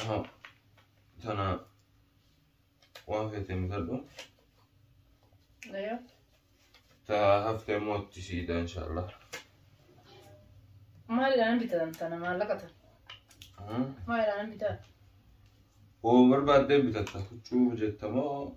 Aha. Tana waan feete mitadhu. Ayo. Ta hafte immoo itti siida inshaallah. Maalidhaan bitan tana maallaqa tan? Maalidhaan bitan? Hoo barbaaddee bitatta huccuu jettamoo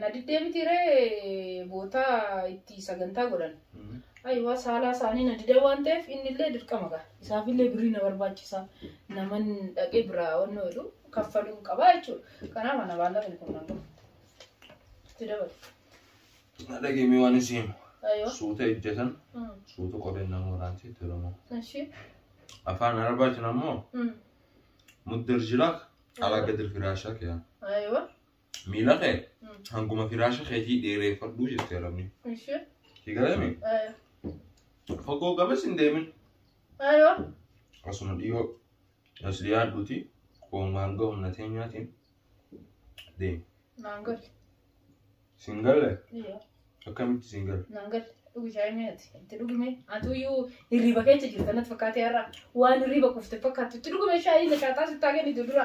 Na diddee miti ree bootaa itti sagantaa godhan. Ayiwaa saalaa isaanii na dida waan ta'eef inni illee dirqama ga'a. Isaaf illee birrii na barbaachisa. Naman dhaqee biraa onnoo jedhu kaffaluun qabaa jechuudha. Kanaaf ana baallaqni kun nan gahu. Itti dabalu. Dhageemee waan isin himu. Ayiwaa. Suuta ejjatan Mm. suuta qoreen nama waraanti itti oromoo. Ishee. Afaan Arabaatiin ammoo Mm. muddir jiraak alaa gadir firaashaa kiyaan. Ayiwaa. miila kee hanguma firaasha keetii dheereeffadhuu jette rabni. Ishee. Si galame fagoo gamas hin deemin Ayoo. asuma dhiyoo as dhiyaadhuuti qoomaan ga'u na teenyaatiin deemi. Naan galle. Sin galle Yoo. Akkamitti siin gala? Naan gala. Dhugi shaayii mee ati. Itti dhugi mee. Atu iyyuu hirriba keessa jirta natti fakkaatee har'a. Waan hirriba kufte fakkaattu. Itti dhugi mee shaayii na shaaxaa sittaa kennitu dura.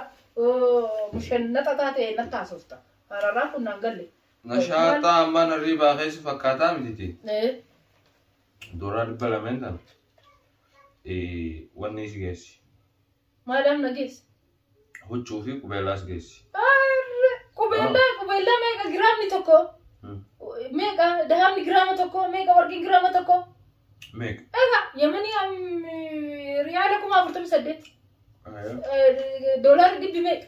Mushan naxa taate natta haasofta. Hararaa kun naan galle. Nashaaxaa ammaa narrii baakeessu fakkaataa mititi. Eh, Dooraa dhibba lameen sana. Wanni si geessi. Maadaam na geesse. Huccuu fi qubeellaas geessi. Arre, Qubeellaa qubeellaa meeqa giraamni tokko? Hmm. Meeqa dahabni giraama tokko? Meeqa warqiin giraama tokko? Meeqa? Egaa yamanii am, riyaala kuma afurtamii saddeet. Eh, Doolaarri dhibbi meeqa?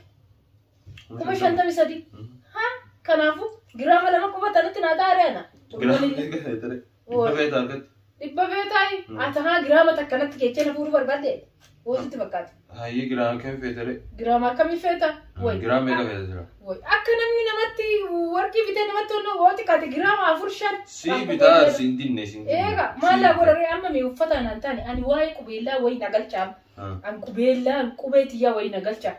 Kuma shantamii sadii. Hmm. Ha? Kanaafuu giraama lama quba tanatti naa xaaree ana. Giraamni gaheetere. Dhibba feeta argatta. Dhibba feetaayi. Mm. Ati haa giraama takka natti keechee na fuudhuu barbaadde. Hoositti fakkaata. Hayyii giraama kam feetare? Giraama akkamii feeta? Woy. Giraama meeqa feeta jira? Woy. Akka namni namatti warqii bitee namatti onnoo woo xiqqaate giraama afur shan. Sii Rakkoo bitaa godhee- siin dinne siin dinne. Eega maallaa godharee amma mee uffata naan taane ani waa'ee qubeellaa wayii na galchaama. An qubeellaa an qubee tiyyaa wayii na galcha.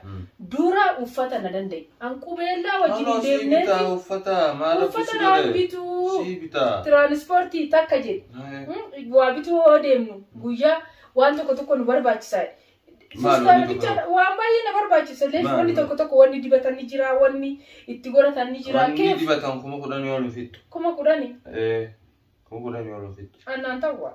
Dura uffata na danda'i. An qubeellaa wajjin hin deemneeti. Uffata maal Uffata naan bituu. Sii bitaa. Tiraanispoortii takka jedhe. Mm, Waa bituu hoo deemnu guyyaa waan tokko tokko nu barbaachisaa. Maal Fustaana wanni tokko bichaadha. tokko? Waan baay'ee na barbaachisa. Illee Maal wanni wanni? tokko tokko wanni dibatan ni jira, wanni itti godhatan ni jira. Wanni Keef dibatan kuma kudhan yoo lufittu. kuma kudhani Kuma kudhan yoo lufittu. annaan ta'u waa.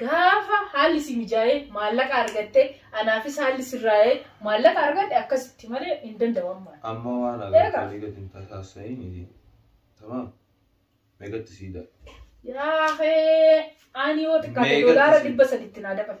Gaafa haalli si mijaa'ee maallaqa argatte anaafis haalli sirraa'ee maallaqa argadhe akkasitti malee hin danda'u amma. Amma waan Eegaa. agartanii gad hin tasaassa'iin iti. Tamaam. Meeqatti siidaa? Yaa hee ani yoo xiqqaate Meeqatti doolaara si- dhibba saditti naa dabalu.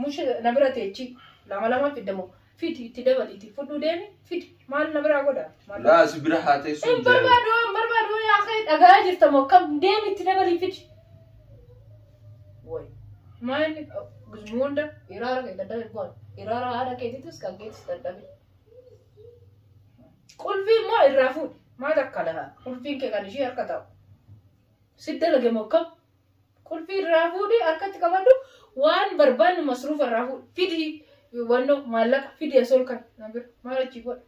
Mush na bira teechi lama lama fidda moo fidi itti dabaliiti fudhuu deemi fidi maal na biraa godha maal Laa si bira haa teessu hin hin jedhamu. barbaadu hin barbaadu yaa kee dhagaa jirta moo kam deemi itti dabalii fidi way maanni gizmuu hunda iraara kee dadhabe boon iraara haadha keetiitis kan keetis dadhabe qulfii immoo irraa fuudhi maal akka lahaa qulfiin kee kan ishii harka ta'u si dalage moo kam Qulfii irraa fuudhii harkatti qabadhu waan barbaannu masruufa irraa fuudhi. Fidi wanno maallaqa fidi as ol kan na bira maal achi godha.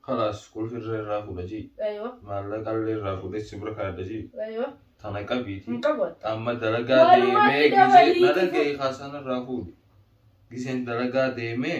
Kalaas qulfii irra irraa fuudha jii. Aywa Maallaqa illee irraa fuudhee si bira kaadha jii. aywa Tana qabiiti. hin qabu ati. Amma dalagaa Walumaa deemee fida gisee waliiti dalagaa fu- kaasaan irraa fuudhi. Giseen dalagaa deemee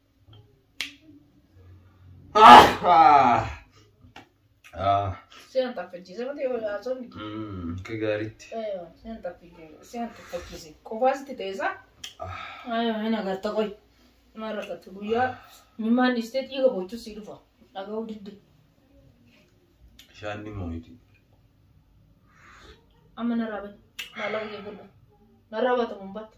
Sean taffachiise mati haasofni. Akka gaariitti. Sean taffachiise. Sean taffachiise. Qofaasitti ta'esaa. Ayo hin agarta qoy. Maal rakkatti guyyaa mimaan dhiistee dhiiga bochuu sii dhufa. Dhaga'uu didde. Shaanni mooyiti. Amma narraa bani. Maallaqa kee godha. Narraa baata mun baata.